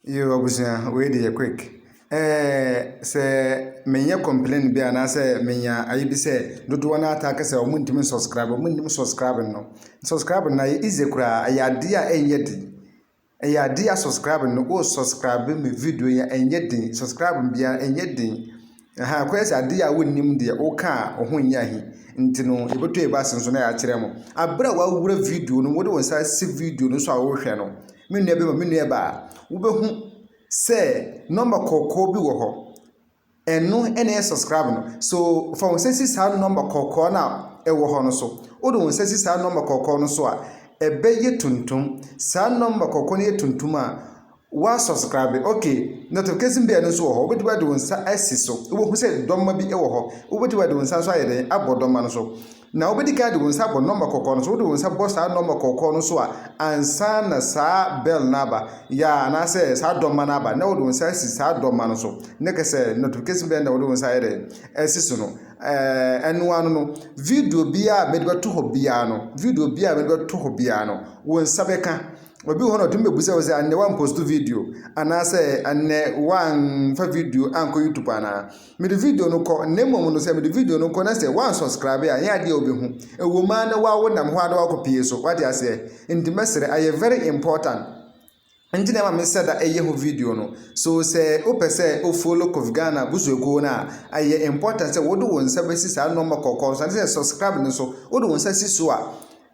Yiw, abusua, wei de yɛ quick. Ɛɛ, sɛ menyɛ complain bi anaasɛ menya ayi bi sɛ dodoɔ no ara taa ka sɛ wɔntumi nsubscribe, wɔnnim subscribe no. Subscribe no ayɛ easy koraa, ɛyɛ adeɛ a ɛnyɛ den. Ɛyɛ adeɛ a subscribe no, wo subscribe me video yi a ɛnyɛ den, subscribe biara ɛnyɛ den. Ahaa ɛkɔyɛ sɛ adeɛ a wonnim deɛ woka a wo ho nyɛ ahi nti no yɛbɛtɔ yɛn bo ase nso na yɛakyerɛ mo. Aberɛ a wawura video no mu, wode wo nsa asi video no so a worehwɛ no, me nua bɛma me nua baa, wobɛhu sɛ nɔmba kɔkɔɔ bi wɔ hɔ. Ɛno na ɛyɛ subscribe no. So fa wo nsa si saa nɔmba kɔkɔɔ no a ɛwɔ hɔ no so. Wode wo nsa si saa nɔmba kɔkɔɔ no so a, ɛbɛyɛ tuntum. Saa nɔmba kɔkɔɔ no yɛ tuntum a, Wa subscribe ok notification bell no nso wɔ hɔ wobɛtumi ade wo nsa asi so wobɛhu sɛ dɔmma bi wɔ hɔ wobɛtumi ade wo nsa nso ayɛ dɛn abɔ dɔmma no so na wobɛdi kan de wo nsa abɔ nɔmba kɔkɔɔ no so wode wo nsa bɔ saa nɔmba kɔkɔɔ no so a ansa na saa bell no aba yɛ anaasɛ saa dɔmma no aba na wode wo nsa asi saa dɔmma no so ne kɛ sɛ notification bell na wode wo nsa ayɛ dɛn asi so no ɛno ano no video biara a mɛde bɛto hɔ biara no video biara a mɛde bɛto hɔ biara no wo nsa bɛka Obi wɔ hɔ na ɔtumi bebisa wo sɛ, Ɛnnɛ woamposto video? Anaasɛ ɛnnɛ woamfa video ankɔ YouTube anaa? Mede video no kɔ, na mmom no sɛ mede video no kɔ na sɛ woansubscribe a, ɛnyɛ adeɛ a wobɛhu. Ɛwɔ mu ara na woa wonam hɔ ara na woakɔpie so. Woate aseɛ? Nti mɛsrɛ, ayɛ very important. Nti na ɛma mesɛ da ɛyɛ ho video no. So sɛ wopɛ sɛ wo follow Kofi Ghana abusuakuo no a, ɛyɛ important sɛ wode wo nsa bɛsi saa nɔma kɔkɔɔ no so, anaasɛ subscribe no so. Wode wo nsa si so a,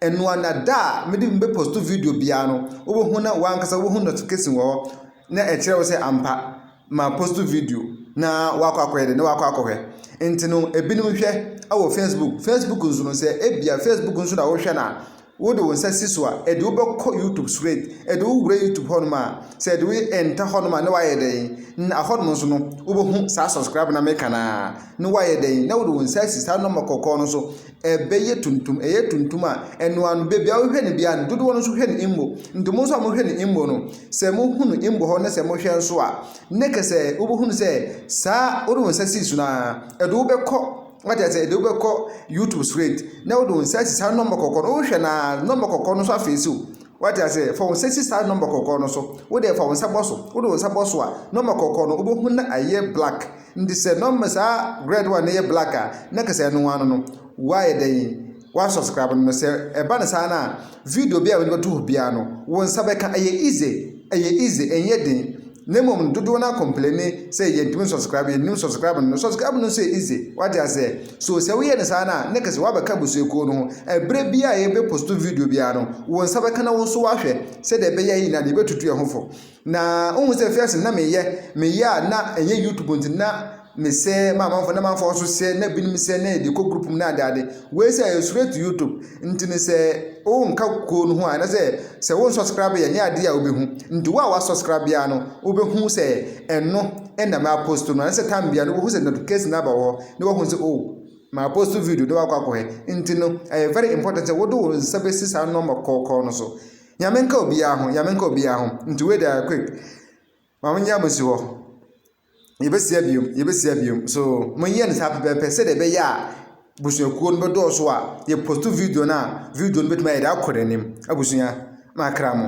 Ɛno a na da a mede me bɛ posto video biara no wobɛhu na wankasa wobɛhu notification wɔ hɔ na ɛkyerɛ wo sɛ ampa ma posto video na wakɔ akɔyɛ de na wakɔ akɔhwɛ nti no ebinom hwɛ wɔ facebook facebook nso no sɛ ebia facebook nso na wohwɛ na wode wo nsa si so a ɛde wobɛkɔ youtube straight ɛde wowura youtube hɔnom a sɛ ɛde wo ɛnta hɔnom a na wayɛ dɛn na ahɔnom nso no wobɛhu saa subscribe na meka na na wayɛ dɛn na wode wo nsa si saa nɔmba kɔkɔɔ no so Ɛbɛyɛ tuntum, ɛyɛ tuntum a, ɛno ara no, baabi a wohwɛ no biara no, dodoɔ no nso hwɛ no mmo. Nti mo nso a mohwɛ no mmo no, sɛ mohunu mmo hɔ na sɛ mohwɛ nso a, ne kɛ sɛ wobɛhunu sɛ saa wode wo nsa sii so no ara, ɛde wo bɛkɔ wate aseɛ ɛde wo bɛkɔ YouTube straight na wode wo nsa asi saa nɔmba kɔkɔɔ no wohwɛ no ara nɔmba kɔkɔɔ no nso afeesi wo. Wate aseɛ fa wo nsa si saa nɔmba kɔkɔɔ no so, wo deɛ fa wo nsa bɔ so, wode wo nsa bɔ so a nɔmba kɔkɔɔ no wobɛhunu na ayɛ black Nti sɛ na ɔma saa red one no yɛ black a na kɛ sɛ ɛno ano no w'ayɛ dɛn w'asubscribe no no sɛ ɛba no saa no a video biaa mede bɛto hɔ biaa no wo nsa bɛka ɛyɛ easy ɛyɛ easy ɛnyɛ den na mmom no dodoɔ no ara complaini sɛ yɛntumi nsubscribe yɛnnim nsubscribe no no subscribe no nso yɛ easy wate aseɛ so sɛ woyɛ no saa no a na kɛ sɛ w'abɛka abusuakuo no ho ɛberɛ biaa yɛbɛ posto video biaa no wo nsa bɛka na wo nso w'ahwɛ sɛdeɛ ɛbɛyɛ yɛ nyinaa no yɛbɛtutu yɛn ho fo Na wohu sɛ fiase na meyɛ meyɛ a na ɛnyɛ youtube nti na mesɛ ma amanfo na amanfo nso sɛ na binom sɛ na yɛde kɔ group mu na ade ade wei sɛ ɛyɛ straight to youtube nti ne sɛ wonka kuo no ho a na sɛ sɛ wo subscribe yɛ nyɛ adeɛ a wobɛhu nti wo a wa subscribe biara no wobɛhu sɛ ɛno ɛna ma post no na sɛ tam biara no wobɛhu sɛ notification na aba wɔ hɔ na wahu sɛ oh ma post video na wakɔ akɔhɛ nti no ɛyɛ very important sɛ wode wo nsa bɛsi saa nɔma kɔkɔɔ no so Nyame nka obiara ho, Nyame nka obiara ho, nti wei deɛ quick, ma mo nyɛ mo si hɔ, yɛbɛsia biom, yɛbɛsia biom, so mo nyɛ no saa pɛpɛpɛ sɛdeɛ ɛbɛyɛ a busuakuo no bɛdɔɔso a yɛ post video no a video no bɛtumi ayɛ dɛ akɔ n'anim, abusua, makra mo.